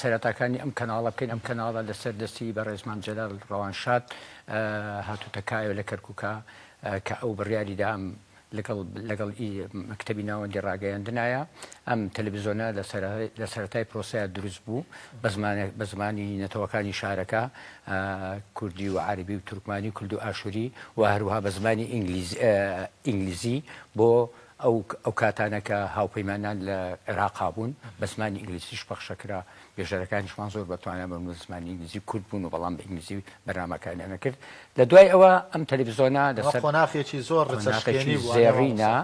سەرەتاکانی ئەم کەناڵە بکەین ئەم کەناڵە لەسەر دەستی بەڕێز مام جەلال ڕەوانشاد هاتوتە کایەوە لە کەرکوکا کە ئەو بڕیاری دا ئەم لەگەڵ لەگەڵ ئی مەکتەبی ناوەندی ڕاگەیەندنایە ئەم تەلەبیزۆنە لە سەر لە سەرەتای پرۆسەیا دروست بوو بە زمان بە زمانی نەتەوەکانی شارەکە کوردی و عەربی و تورکمانی و کلد و ئاشوری و هەروها بە زمانی ئینگلیز ئینگلیزی بۆ ئەو ئەو کاتانە کە هاوپەیمانان لە عێراقا بوون بە زمانی ئینگلیزیش پەخشە کرا، بێژەرەکانیشمان زۆر بە توانا بە زمانی ئینگلیزی کورت بوون و بەڵام بە ئینگلیزی بەرنامەکانیان ئەکرد. لە دوای ئەوە ئەم تەلەفزیۆنە لە سەر قۆناخێکی زۆر رچەشکێنی بوو ئەرێ مامۆستا. قۆناخێکی زێڕینە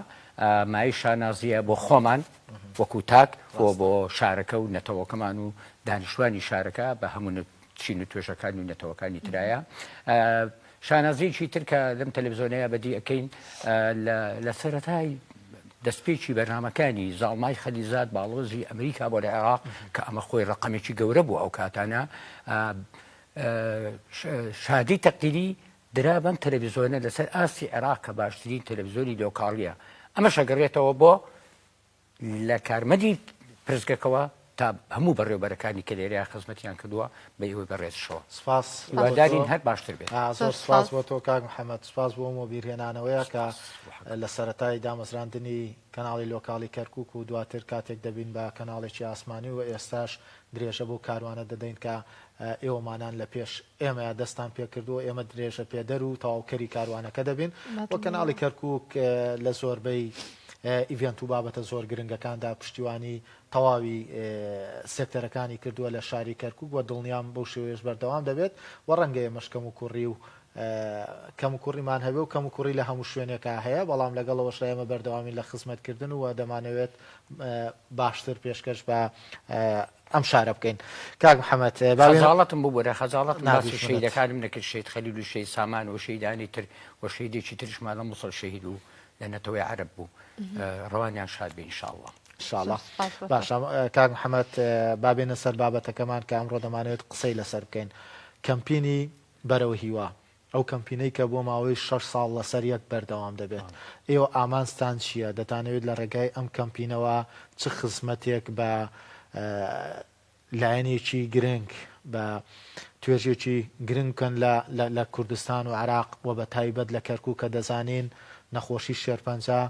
مایەی شانازییە بۆ خۆمان وەکوو تاک و بۆ شارەکە و نەتەوەکەمان و دانیشتوانی شارەکە بە هەموو چین و توێژەکانی و نەتەوەکانی ترایە. شانازیەکی تر کە لەم تەلەفزۆنەیا بەدی ئەکەین لە سەرەتای دەستپێکی بەرنامەکانی زاڵمای خەلیزاد باڵۆزی ئەمریکا بۆ لە عێراق کە ئەمە خۆی ڕقمێکی گەورە بوو ئەو کاتانە شادی تەقدیری درا بەم تەلەڤزیۆنە لەسەر ئاستی عێراق کە باشترین تەلەڤزیۆنی لۆکاڵیە ئەمە شەگەڕێتەوە بۆ لە کارمەدی پرسگەکەوە تا هەموو بەڕێوبەرەکانی کە لێرەیان خزمەتیان کردووە بە ئێوەی بەڕێزشەوە سپاس هیوادارین هەر باشتر بێت زۆر سپاس بۆ تۆ کاک محەممەد سپاس بۆ ئەو بیرهێنانەوەیە کە لە سەتای دامەزراندنی کەناڵی لۆکاڵی کەرکک و دواتر کاتێک دەبین بە کەناڵێکی ئاسمانی و ئێستاش درێژە بۆ کاروانە دەدەین کە ئێوەمانان لە پێش ئێمەیە دەستتان پێکردووە، ئێمە درێژەپێدەر و تەواوکەری کاروانەکە دەبین و کەناڵی کەرکووک لە زۆربەی ئیڤێنت و بابەتە زۆر گرنگەکاندا پشتیوانی تەواوی سێکتەرەکانی کردووە لە شاری کەرکووک و دڵنیام بەو شێوەیەش بەردەوام دەبێت و ڕەنگە ئێمەش کەموکوڕی و کەموکوڕیمان هەبێ و کەموکوڕی لە هەموو شوێنێکا هەیە، بەڵام لەگەڵ ئەوەشدا ئێمە بەردەوامین لە خزمەتکردن و دەمانەوێت باشتر پێشکەش بە ئەم شارە بکەین کاک محەممەد باڵەتم ببوورە خەجاڵەت ناسی شەیدەکانم نەکرد شیت خەلیل و شەی سامان و شەیدانی تر و شەیدێکی ترشمان لە مسڵ شەهید و لە نەتەوەی عرب بوو ڕوانیان شاد بین شاڵڵە شاڵە باشە کاک محەممەد بابێنە سەر بابەتەکەمان کە ئەمڕۆ دەمانێت قسەی لەسەر بکەین کەمپینی بەرەوە هیوا ئەو کەمپینەی کە بۆ ماوەی شەش ساڵ لەسەر یەک بەردەوام دەبێت، ئێوە ئامانجتان چییە؟ دەتانەوێت لە ڕێگای ئەم کەمپینەوە چ خزمەتێک بە لایەنێکی گرنگ، بە توێژێکی گرنگ بکەن لە کوردستان و عێراق و بە تایبەت لە کەرکووک کە دەزانین نەخۆشی شێرپەنجە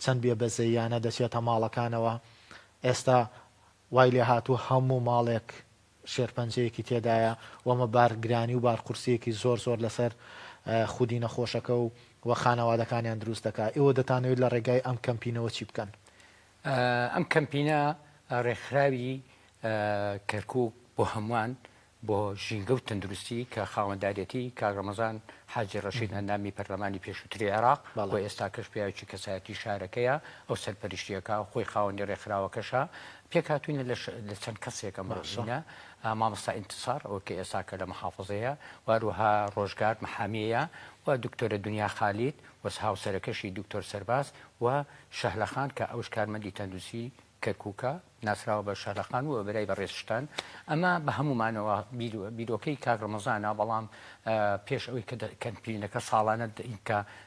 چەند بێ بەزەییانە دەچێتە ماڵەکانەوە؟ ئێستا وای لێهاتووە هەموو ماڵێک شێرپەنجەیەکی تێدایە و ئەمە بارگرانی و بارقورسییەکی زۆر زۆر لەسەر خودی نەخۆشەکە و و خانەوادەکانیان دروست دەکات. ئێوە دەتانەوێت لە ڕێگای ئەم کەمپینەوە چی بکەن؟ ئەم کەمپینە ڕێکخراوی کەرکوک بۆ هەمووان بۆ ژینگە و تەندروستی کە خاوەندارێتی کاک ڕەمەزان حاجی ڕەشید ئەندامی پەرلەمانی پێشووتری عێراق و ئێستاکەش پیاوێکی کەسایەتی شارەکەیە، ئەو سەرپەرشتییەکا و خۆی خاوەنی ڕێکخراوەکەشە، پێکهاتووینە لە لە چەند کەسێک ئەم بەشینە مامۆستا ئینتسار ئەو کە ئێسا کە لە محافظەیە واروها ڕۆژگار محامیەیە و دکتۆرە دنیا خالید وەس هاوسەرەکەشی دکتۆر سەرباز و شەهلەخان کە ئەوش کارمەندی تەندوسی کەرکووکە ناسراوە بە شەهلەخان و برای بە ڕێزشتان ئەمە بە هەمومانەوە بیرۆکەی کاک ڕمەزانە بەڵام پێش ئەوەی کە کەمپینەکە ساڵانە کە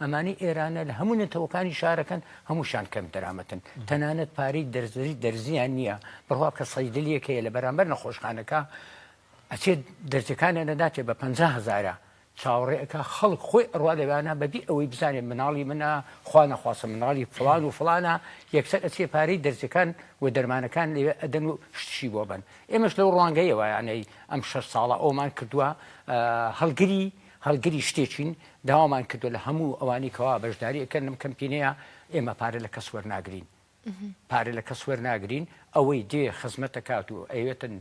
ئەمانەی ئێرانە لە هەموو نەتەوەکانی شارەکەن هەمووشان کەم دەرامەتن تەنانەت پارەی دەرزری دەرزیان نییە بڕوا کە سەیدلیەک هەیە لە بەرامبەر نەخۆشخانەکە ئەچێت دەرزەکانە نەداتێ بە پ هزارە چاوەڕێەکە خەڵک خۆی ئەڕوا لەوانە بەبی ئەوەی بزانێت مناڵی منە خوا نەخواسە مناڵی فلان و فلانە یەکسەر ئەچێ پارەی دەرزەکان و دەرمانەکان لەوێ ئەدەن و شتشی بۆ بن ئێمەش لەو ڕوانگەیەوەیانەی ئەم شەش ساڵە ئەومان کردووە هەڵگری هەڵگری شتێکین داوامان کردووە لە هەموو ئەوانەی کەوا بەشداری ئەکەن لەم کەمپینەیە ئێمە پارە لە کەس وەرناگرین پارە لە کەس وەرناگرین ئەوەی دێ خزمەت دەکات و ئەوێتن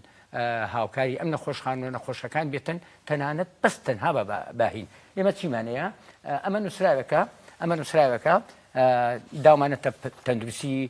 هاوکاری ئەم نەخۆشخان و نەخۆشەکان بێتن تەنانەت بەس تەنها بە باهین ئێمە چیمانەیە ئەمە نووسراوەکە ئەمە نووسراوەکە داومانە تەندروستی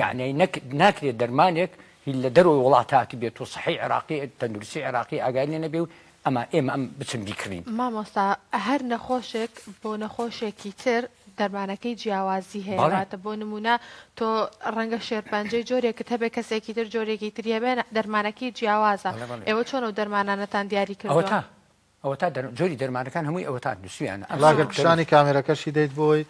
یەعنی نەک ناکرێت دەرمانێک هی لە دەرەوەی وڵات هاتبێت و سەحی عێراقی تەندروستی عێراقی ئاگای لێ نەبێ و ئەما ئێمە ئەم بچن بیکڕین. مامۆستا هەر نەخۆشێک بۆ نەخۆشێکی تر دەرمانەکەی جیاوازی هەیە بەڵێ. واتە بۆ نموونە تۆ ڕەنگە شێرپەنجەی جۆرێکت هەبێ کەسێکی تر جۆرێکی تری هەبێ دەرمانەکەی جیاوازە بەڵێ بەڵێ. ئێوە چۆن ئەو دەرمانانەتان دیاری کردووە؟ ئەوەتا ئەوەتا دەر جۆری دەرمانەکان هەمووی ئەوەتا نووسویانە ئەم لاگەر سەرەوە پیشانی کامێرەکەشی دەیت بۆی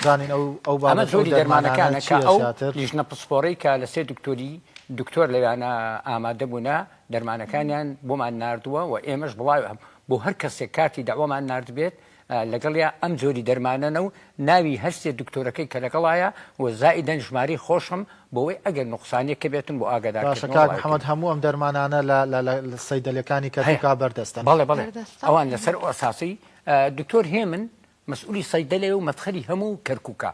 زانین ئەو ئەو ئەمە بابەت ئەو جۆری دەرمانانە دەرمانەکانە کە چییە ئەو زیاتر لیژنە پسپۆڕەی کە لە سێ دکتۆری دکتۆر لەویانە ئامادە بوونە دەرمانەکانیان بۆمان ناردووە و ئێمەش بڵاوە بۆ هەر کەسێک کارتی دەعوەمان ناردبێت ئا، لەگەڵیا ئەم جۆری دەرمانەنە و ناوی هەر سێ دکتۆرەکەی کە لەگەڵایە و زائیدەن ژمارەی خۆشم بۆوەی ئەگەر نوقسانیەک هەبێتم بۆ ئاگادار کردنەوە باشە کاک محمد هەموو ئەم دەرمانانە لە لە لە سەیدەلەکانی کەرکوکا بەردەستن؟ بەڵێ بەڵێ بەردەستە ئەوان لەسەر ئەساسی دکتۆر هێمن مەسئولی سەیدەلەیە و مەفخەری هەموو کەرکوکە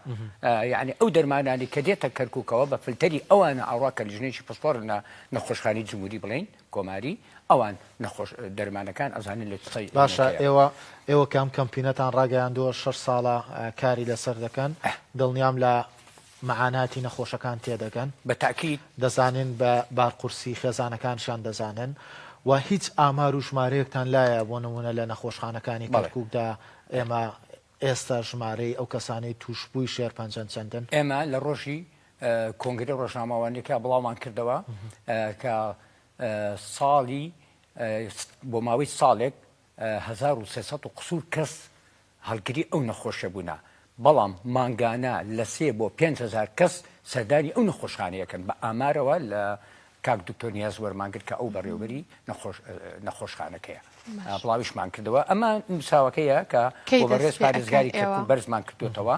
یەعنی ئەو دەرمانانی کە دێتە کەرکوکەوە بە فلتەری ئەوانە ئەڕا کە لیژنەیەکی پسپۆڕ لە نەخۆشخانەی جمهوری بڵێین کۆماری ئەوان نەخۆش دەرمانەکان ئەزانن لە چ سەیدەلەیەک هەیە. باشە ئێوە ئێوە کە ئەم کەمپینەتان ڕاگەیاندووە شەش ساڵە کاری لەسەر دەکەن دڵنیام لە مەعاناتی نەخۆشەکان تێدەگەن. بە تەئکید. دەزانن بە بارقورسی خێزانەکانشیان دەزانن و هیچ ئامار و ژمارەیەکتان لایە بۆ نموونە لە نەخۆشخانەکانی بەڵێ. کەرکوکدا ئێمە ئێستا ژمارەی ئەو کەسانەی تووشبووی شێرپەنجەن چەندن؟ ئێمە لە ڕۆژی کۆنگرەی ڕۆژنامەوانیەکە بڵاومان کردەوە کە ساڵی بۆ ماوەی ساڵێک، هەزار و سێ سەد و قسور کەس هەڵگری ئەو نەخۆشیە بوونە، بەڵام مانگانە لە سێ بۆ پێنج هەزار کەس سەردانی ئەو نەخۆشخانەیە کەن، بە ئامارەوە لە کاک دکتۆر نیاز وەرمان گرت کە ئەو بەڕێوبەری نەخۆشخانەکەیە بڵاویشمان کردەوە ئەمە نوساوەکەیە کە بۆ بەڕێز پارێزگاری کەرکوک بەرزمان کردۆتەوە.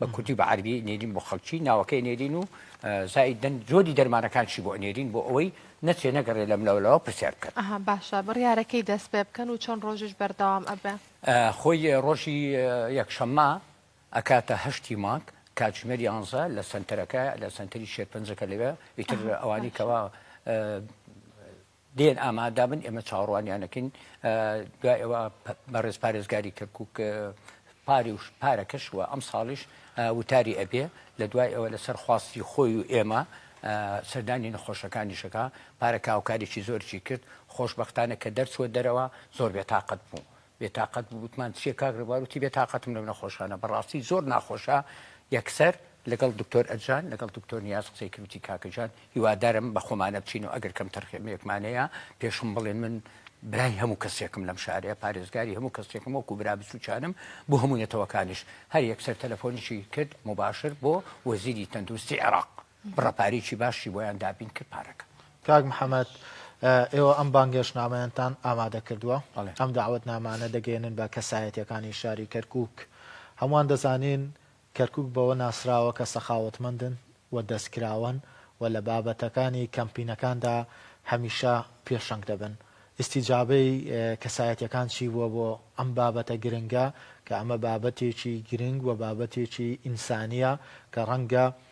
بە کوردی و بە عەرەبی ئەنێرین بۆ خەڵکی، ناوەکەی ئەنێرین و زائیدەن جۆری دەرمانەکانشی بۆ ئەنێرین بۆ ئەوەی نەچێ نەگەڕێ لەملاو لەوە پرسیار بکەن. ئەها باشە بڕیارە کەی دەست پێ بکەن و چەند ڕۆژیش بەردەوام ئەبێ؟ خۆی ڕۆژی یەکشەممە ئەکاتە هەشتی مانگ کاتژمێر یانزە لە سەنتەرەکە لە سەنتەری شێرپەنجەکە لەوێ ئیتر ئەوانی کەوا دێن ئامادەبن ئێمە چاوەڕوانیانەکەین دوای ئەوە بەڕێز پارێزگاری کەرکک پاری و پارەکەش و ئەم ساڵیش وتاری ئەبێ لە دوای ئەوە لەسەر خواستی خۆی و ئێمە سەردانی نەخۆشەکانیشەکە پارە کاوکارێکی زۆرچی کرد خۆشببختانە کە دەرچوە دەرەوە زۆر بێتاقەت بوو بێ تاقەت بوو وتمان چیە کاک ڕێبوار وتی بێ تاقەتم لەو نەخۆشانە بەڕاستی زۆر ناخۆشە یەکسەر لەگەڵ دکتۆر ئەجان لەگەڵ دکتۆر نیاز قسەی کرد وتی کاکە جان هیوادارم بە خۆمانە بچین و ئەگەر کەم تەرخێمێکمان هەیە پێشم بڵێن من برای هەموو کەسێکم لەم شارەیە پارێزگاری هەموو کەسێکم وەکو برا بچووکانم بۆ هەموو نەتەوەکانیش هەر یەکسەر تەلەفۆنیشی کرد مباشر بۆ وەزیری تەندروستی عێراق بڕە پارەیەکی باشی بۆیان دابین کرد پارەکە کاک محەممەد ئێوە ئەم بانگێشنامەیانتان ئامادە کردووە ئەم داوت نامانە دەگەێنن بە کەسایەتەکانی شاری کەرکک هەمووان دەزانین کەرکک بەوە ناسراوە کە سەخاوتمەندن و دەستکراوەن و لە بابەتەکانی کەمپینەکاندا هەمیشە پێشەنگ دەبن ئیسیجابەی کەسایەتەکان چی بووە بۆ ئەم بابەتە گرنگە کە ئەمە بابەتێکی گرنگ و بابەتێکی ئینسانیە کە ڕەنگە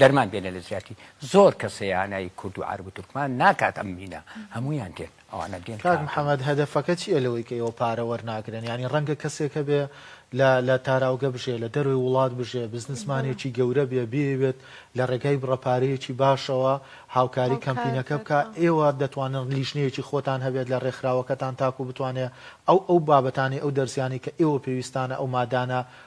دەرمان بێنە لە زیاتی زۆر کەسەیانای کورد و عرب و تورکمان ناکات ئەم مینە هەمویان دێن ئەوانە دێن کاک محمد هەدەفەکە چیە لەوەی کە ئێوە پارە وەرناگرن یانی ڕەنگە کەسێک هەبێ لە لە تاراوگە بژێ لە دەرەوەی وڵات بژێ بزنسمانێکی گەورە بێ بیەوێت لە ڕێگای بڕە پارەیەکی باشەوە هاوکاری کەمپینەکە بکە ئێوە دەتوانن لیژنەیەکی خۆتان هەبێت لە ڕێکخراوەکەتان تاکو بتوانێ ئەو ئەو بابەتانی ئەو دەرزیانی کە ئێوە پێویستانە ئەو مادانە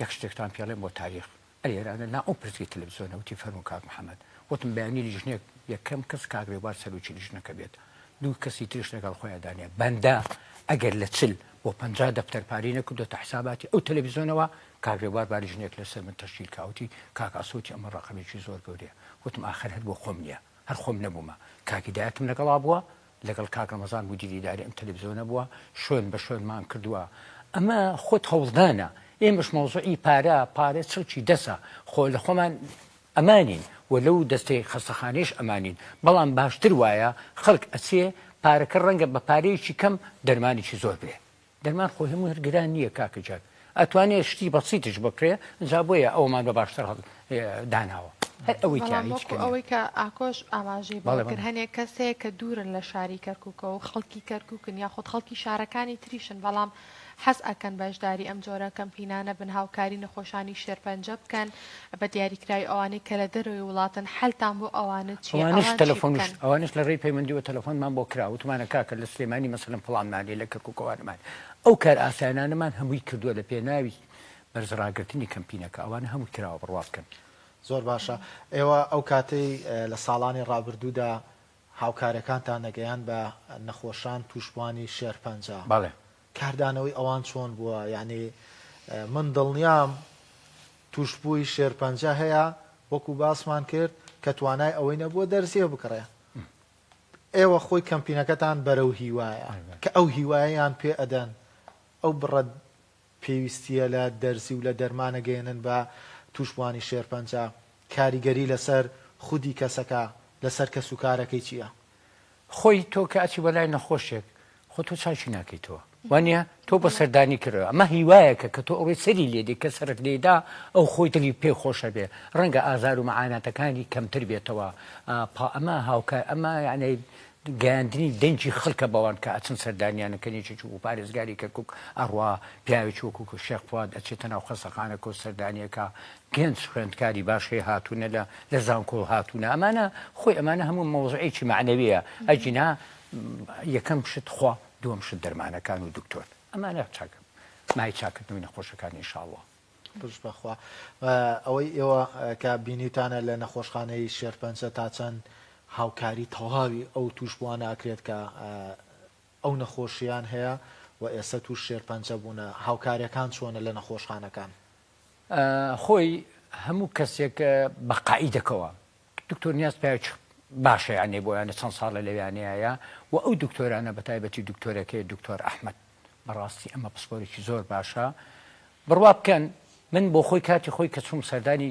یەک شتێکتان پێڵێم بۆ تاریخ ئەرێرانە نا ئەو پرسی تەلەفزیۆنە وتی فەرموو کاک محمد وتم بەیانی لیژنەیەک یەکەم کەس کاک رێبوار سەرۆکی لیژنەکە بێت دوو کەسی تریش لەگەڵ خۆیان دانێ بەندە ئەگەر لە چل بۆ پەنجا دەفتەر پارەی نەکردۆتە حساباتی ئەو تەلەفزیۆنەوە کاک رێبوار با لیژنەیەک لەسەر من تەشکیل کا وتی کاک ئاسۆ وتی ئەمە رەقەمێکی زۆر گەورەیە وتم ئاخر هەر بۆ خۆم نییە هەر خۆم نەبوومە کاک هیدایەتم لەگەڵا بووە لەگەڵ کاک ڕەمەزان بوو دیداری ئەم تەلەفزیۆنە بووە شوێن بە شوێنمان کردووە ئەمە خۆت هەوڵدانە ئێمەش مەوزوعی پارە پارە چڵکی دەسە خۆ لە خۆمان ئەمانین و لەو دەستەی خەستەخانەیش ئەمانین بەڵام باشتر وایە خەڵک ئەچێ پارەکە ڕەنگە بە پارەیەکی کەم دەرمانێکی زۆر بێ دەرمان خۆی هەموی هەر گران نیە کاکە جاد ئەتوانێ شتی بەسیتش بکرێ جا بۆیە ئەوەمان بە باشتر هەڵ داناوە هەر ئەوەی تیا هیچ کەم نیە. بەڵام وەکو ئەوەی کە ئاکۆش ئاماژەی بەوە کرد هەنێ کەس هەیە کە دوورن لە شاری کەرکوکەوە و خەڵکی کەرکوکن یاخود خەڵکی شارەکانی تریشن بەڵام حەز ئەکەن بەشداری ئەم جۆرە کەمپینانە بن هاوکاری نەخۆشانی شێرپەنجە بکەن، بە دیاریکراوی ئەوانەی کە لە دەرەوەی وڵاتن حەلتان بۆ ئەوانە چیە ئەوانیش ئەوان چی تەلەفۆن بکەن؟ ئەوانیش لە ڕێی پەیوەندیوە تەلەفۆنمان بۆ کرا وتمانە کاکە لە سلێمانی مەسەلەن فڵانمان هەیە لە کەرکوک ئەوانمان هەیە ئەو کار ئاسایانانەمان هەمووی کردوە لە پێناوی بەرز ڕاگرتنی کەمپینەکە ئەوانە هەمووی کراوە بڕوا بکەن. زۆر باشە ئێوە ئەو کاتەی لە ساڵانی ڕابردوودا هاوکارەکانتان دەگەیاند بە نەخۆشان توشبوانی شێرپەنجە بەڵێ کاردانەوەی ئەوان چۆن بووە یانی من دڵنیام توشبووی شێرپەنجە هەیە وەکو باسمان کرد کە توانای ئەوەی نەبووە دەرزیە بکڕێ ئێوە خۆی کەمپینەکەتان بەرەو هیوایە کە ئەو هیوایەیان پێ ئەدەن ئەو بڕە پێویستیە لە دەرزی و لە دەرمانە گەێنن بە توشبووانی شێرپەنجە کاریگەری لەسەر خودی کەسەکە لەسەر کەسوکارەکەی چیە؟ خۆی تۆ کە ئەچی بەلای نەخۆشێک خۆ تۆ چاکی ناکەیتەوە وانە تۆ بە سەردانی کردەوە ئەمە هیوایەکە کە تۆ ئەوەی سەری لێدی کە سەرک لێدا ئەو خۆی دڵی پێ خۆشە بێ ڕەنگە ئازار و مەعاناتەکانی کەمتر بێتەوە پا ئەمە هاوکە ئەمە یعنی گەیاندنی دەنگی خەڵکە بەوان کە ئەچن سەردانیانەکەنیێکی و پارێزگاری کەکک ئەڕوا پیاوێکی وەکوکو شێخواد ئەچێتە ناو خەسەخانەکە و سەردانیەکە گەنج خوێندکاری باش هەیە هاتوونە لە لە زانکۆ هاتوونە ئەمانە خۆی ئەمانە هەموو مەوزعێکی معنەوەیە ئەجینا یەکەم شت خوا دووەم شت دەرمانەکان و دکتۆر ئەمانە چاکە مای چاکردنەوەی نەخۆشەکان انشاءاللە. بژ بەخوا ئەوەی ئێوە کە بینیوتانە لە نەخۆشخانەی شێرپەنجە تا چەند هاوکاری تەواوی ئەو تووشبووانە ئەکرێت کە ئەو نەخۆشیان هەیە و ئێستا تووش شێرپەنجە بوونە هاوکاریەکان چۆنە لە نەخۆشخانەکان؟ خۆی هەموو کەسێک بە قائیدەکەوە دکتۆر نیاز پێچ باشە یانێ بۆیانە چەند ساڵە لەویانەیە و ئەو دکتۆرانە بە تایبەتی دکتۆرەکەی دکتۆر ئەحمد بەڕاستی ئەمە پسپۆرێکی زۆر باشە بڕوا بکەن من بۆ خۆی کاتی خۆی کە چوم سەردانی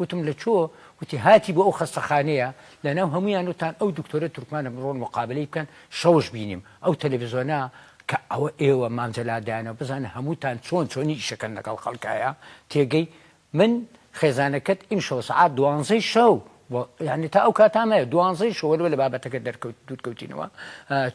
وتم لە چۆ؟ وتی هاتی بۆ ئەو خەستەخانەیە لەناو هەموویان وتان ئەو دکتۆرە تورکمانە بڕۆن مقابەلەی بکەن شەوش بینیم ئەو تەلەفزۆنە کە ئەوە ئێوە مام جەلال دایانەوە بزانە هەمووتان چۆن چۆنی ئیشەکەن لەگەڵ خەڵکایە تێگەی من خێزانەکەت ئیمشەوە سەعات دوانزەی شەو بۆ یعنی تا ئەو کاتا مایە دوانزەی شەوە لەوە لە بابەتەکە دەرکەوت دوورکەوتینەوە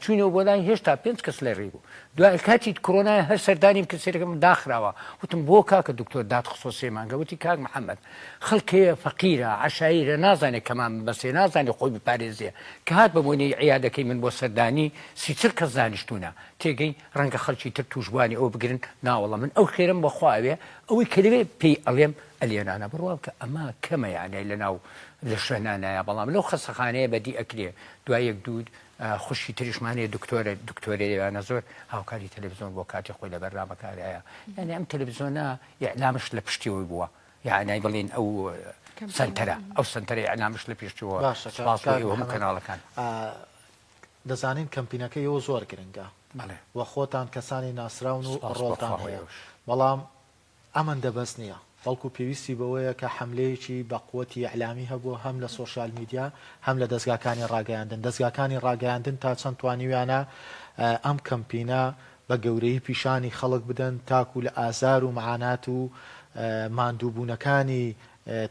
چووینەوە بۆ لای هێشتا پێنج کەس لە ڕێ بوو دوای کاتیت کرۆنای هەر سەردانیم کرد سەرەکەم داخراوە وتم بۆ کاکە دکتۆر دات خستۆ سێ مانگە وتی کاک محەممەد خەڵکەیە فەقیرە عشایرە نازانێت کەمان بەسێ نازانێت خۆی بپارێزێ کە هات بە بۆنەی عیادەکەی من بۆ سەردانی سیچل کەس دانیشتونە تێگەی ڕەنگە خەڵکی تر تووشبوانی ئەوە بگرن ناوەڵە من ئەو خێرم بەخوا ئەوێ ئەوەی کە لەوێ پێی ئەڵێم ئەلیەنانە بڕواکە ئەمە کەمە یانای لەناو لە شوێنانایە بەڵام لەو خەسەخانەیە بەدی ئەکرێ دوای یەک دوود خوشکی تریش مان هەیە دکتۆرە دکتۆرە ئێوانە زۆر هاوکاری تەلەڤزۆن بۆ کاتی خۆی لە بەرنامەکان هەیە یعنی ئەم تەلەڤزۆنە ئیعلامش لە پشتیەوەی بووە یعنی بڵین ئەو سنتەرە ئەو سنتەرە ئیعلامش لە پێشتەوە باشە چاوەڕێ سپاس بۆ کاک ئێوە هەموو محەمەد. کەناڵەکان آ، دەزانین کەمپینەکە ئێوە زۆر گرنگە بەڵێ و خۆتان کەسانی ناسراون و سپاس بۆ ڕۆڵتان خوا و هەیە ئێوەش. بەڵام ئەمەندە بەس نییە، بەڵکو پێویستی بەوەیە کە حەملەیەکی بە قوتی ئیعلامی هەبوو هەم لە سۆشیال میدیا هەم لە دەزگاکانی ڕاگەیاندن. دەزگاکانی ڕاگەیاندن تا چەند توانیویانە ئەم کەمپینە بە گەورەیی پیشانی خەڵک بدەن تاکو لە ئازار و مەعانات و ماندووبوونەکانی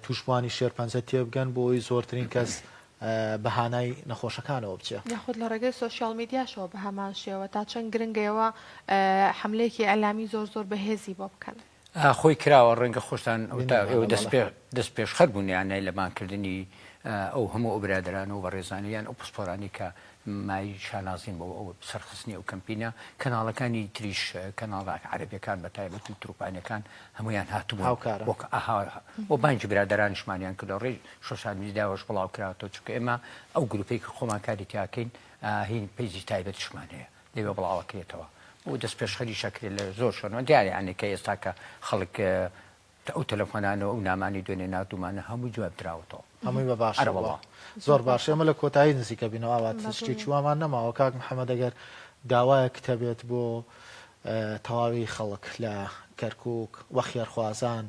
تووشبووانی شێرپەنجە تێبگەن بۆ ئەوەی زۆرترین کەس بە هانای نەخۆشەکانەوە بچێ. یاخود لە ڕێگەی سۆشیاڵ میدیاشەوە بە هەمان شێوە، تا چەند گرنگە ئێوە حەملەیەکی ئیعلامی زۆر زۆر بەهێزی بۆ بکەن. خۆی کراوە، ڕەنگە خۆشتان وتا ئێوە دەست پێشخەر بوون یان نەی لە مانکردنی ئەو هەموو ئەو برادەران و بەڕێزانی یان ئەو پسپۆرانی کە مای شانازین بۆ ئەو سەرخستنی ئەو کەمپینە، کەناڵەکانی تریش کەناڵە عەرەبیەکان بە تایبەت و تروپانەکان هەموویان هاتبوون، وەک ئەها و بانگی برادەرانیشمانیان کردەوە، ڕێ شۆشال میدیاوەش بڵاو کراوەتەوە چونکە ئێمە ئەو گروپەی کە خۆمان کاری تیاکەین هین پیجی تایبەتیشمان هەیە لەوێ بڵاوەکرێتەوە و دەست پێشخەریش ئەکرێت لە زۆر شوێنەوە دیارە یانێ کە ئێستا کە خەڵک ئەو تەلەفۆنانە و ئەو نامانەی دوێنێ ناردوومانە هەمووی جواب دراوەتەوە هەمووی بە باشە ئەرە وەڵا زۆر باشە ئێمە لە کۆتایی نزیکە بینەوە ئاوات باشە شتێکی وامان نەماوە کاک محەممەد ئەگەر داوایەکت هەبێت بۆ اه، تەواوی خەڵک لە کەرکووک و خێرخوازان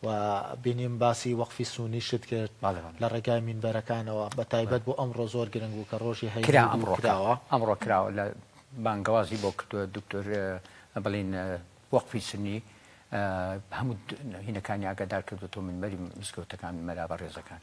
و بینیم باسی وەقفی سوونیشت کرد لە ڕێگای مینبەرەکانەوە بە تایبەت بۆ ئەمڕۆ زۆر گرنگ بوو کە ڕۆژی هەینی بوو کراوە کراوە ئەمڕۆ کراوە لە بانگەوازی بۆ کردووە دکتۆر بڵین وەقفی سونی هەموو هینەکانی ئاگادار کردۆتەوە مینبەری مزگەوتەکان مەلا بەڕێزەکان.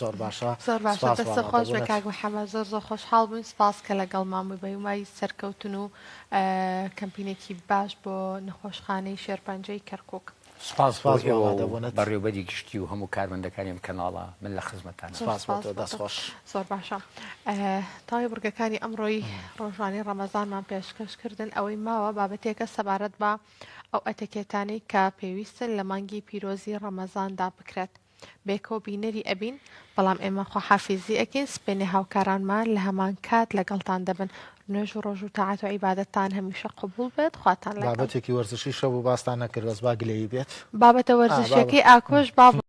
زۆر باشە زۆر باشە سوپاس دەستە خۆش بێ کاک وانادەبونت. محمد زۆر زۆر خۆشحاڵ بووین سوپاس کە لەگەڵمان بووی بە هیوای سەرکەوتن و کەمپینێکی باش بۆ نەخۆشخانەی شێرپەنجەی کەرکوک. سوپاس بۆ سوپاس ئێوە و وانادەبونت. بەڕێوبەری گشتی و هەموو کارمەندەکانی ئەم کەناڵە من لە خزمەتتانم. سوپاس بۆ تۆ دەست خۆش. زۆر باشە تەواوی بڕگەکانی ئەمڕۆی ڕۆژانی ڕەمەزانمان پێشکەش کردن ئەوەی ماوە بابەتێکە سەبارەت بە ئەو ئەتەکێتانەی کە پێویستن لە مانگی پیرۆزی ڕەمەزاندا بکرێت. بێکۆ بینەری ئەبین بەڵام ئێمە خواحافیزی ئەکەین سپێنێ هاوکارانمان لە هەمان کات لەگەڵتان دەبن نوێژ و ڕۆژ و تاعات و عیبادەتتان هەمیشە قبول بێت خواتان لەگەڵ. بابەتێکی وەرزشی شەو بۆ باستان نەکرد بەس با گلەیی بێت بابەتە آه، وەرزشیەکەی بابا. ئاکۆش با